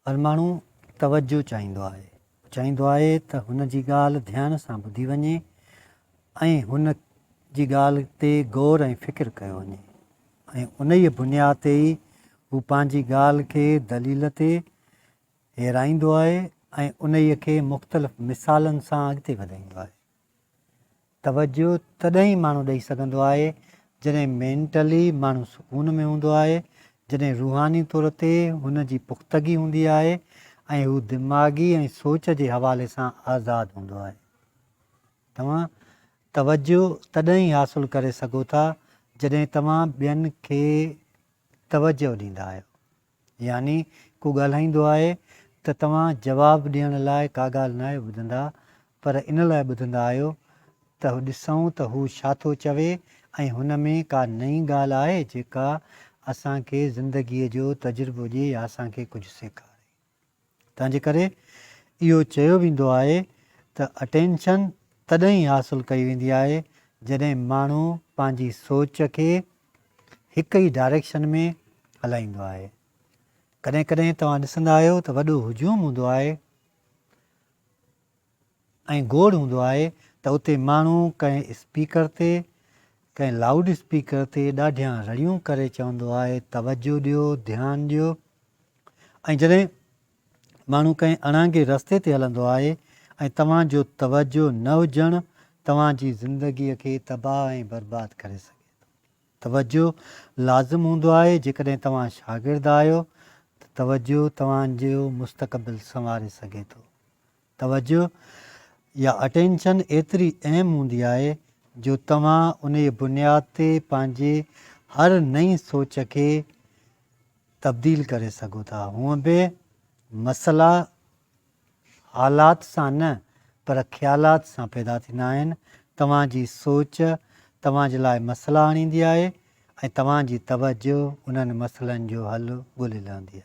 هر ماڻهو توجهه چاهيندو آهي. هو چاهيندو آهي ته هن جي ڳالهه ڌيان سان ٻڌي وڃي ۽ هن جي ڳالهه تي غور ۽ فڪر ڪيو وڃي ۽ انهيء بنياد تي ئي هو پنهنجي ڳالهه کي دليل تي هيرائيندو آهي ۽ انهيء کي مختلف مثالن سان اڳتي وڌائيندو آهي. توجه تڏهن ئي ماڻهو ڏئي سگهندو آهي جڏهن مينٽلي ماڻهو سڪون ۾ هوندو آهي، جڏهن روحاني طور تي هن جي پختگي هوندي آهي ۽ هو دماغي ۽ سوچ جي حوالي سان آزاد هوندو آهي. توهان توجه تڏهن ئي حاصل ڪري سگهو ٿا جڏهن توهان ٻين کي توجه ڏيندا آهيو. يعني ڪو ڳالهائيندو آهي ته توهان جواب ڏيڻ لاء ڪا ڳالهه ناهي ٻڌندا پر ان لاء ٻڌندا آهيو ته ڏسون ته هو ڇا ٿو چوي ۽ هن ۾ ڪا نئين ڳالهه آهي جيڪا اسان کي زندگيء جو تجربو ڏي يا اسان کي ڪجهه سيکاري. تنهنجي ڪري اهو چيو ويندو آهي ته اٽينشن تڏهن ئي حاصل ڪئي ويندي آهي جڏهن ماڻهو پنهنجي سوچ کي هڪ ئي ڊائريڪشن ۾ هلائيندو آهي. ڪڏهن ڪڏهن توهان ڏسندا آهيو ته وڏو هجوم هوندو آهي. ۽ گوڙ هوندو آهي ته اتي ماڻهو ڪنهن اسپيڪر تي، ڪنهن لائوڊ اسپيڪر تي ڏاڍيان رڙيون ڪري چوندو آهي توجه ڏيو، ڌيان ڏيو ۽ جڏهن ماڻهو ڪنهن اڻانگي رستي تي هلندو آهي ۽ توهان جو توجه نه هجڻ توهان جي زندگي کي تباهه ۽ برباد ڪري سگهي ٿو. توجه لازم هوندو آهي جيڪڏهن توهان شاگرد آهيو ته توجه توهان جو مستقبل سنواري سگهي ٿو. توجه يا Attention ايتري اهم هوندي آهي جو توهان انهيء بنياد تي پنهنجي هر نئين سوچ کي تبديل ڪري سگهو ٿا. هونء به مسئلا حالات سان نه پر خيالات سان پيدا ٿيندا آهن. توهان جي سوچ توهان جي لاء مسئلا آڻيندي آهي ۽ توهان جي توجه انهن مسئلن جو حل ڳولي لهندي آهي.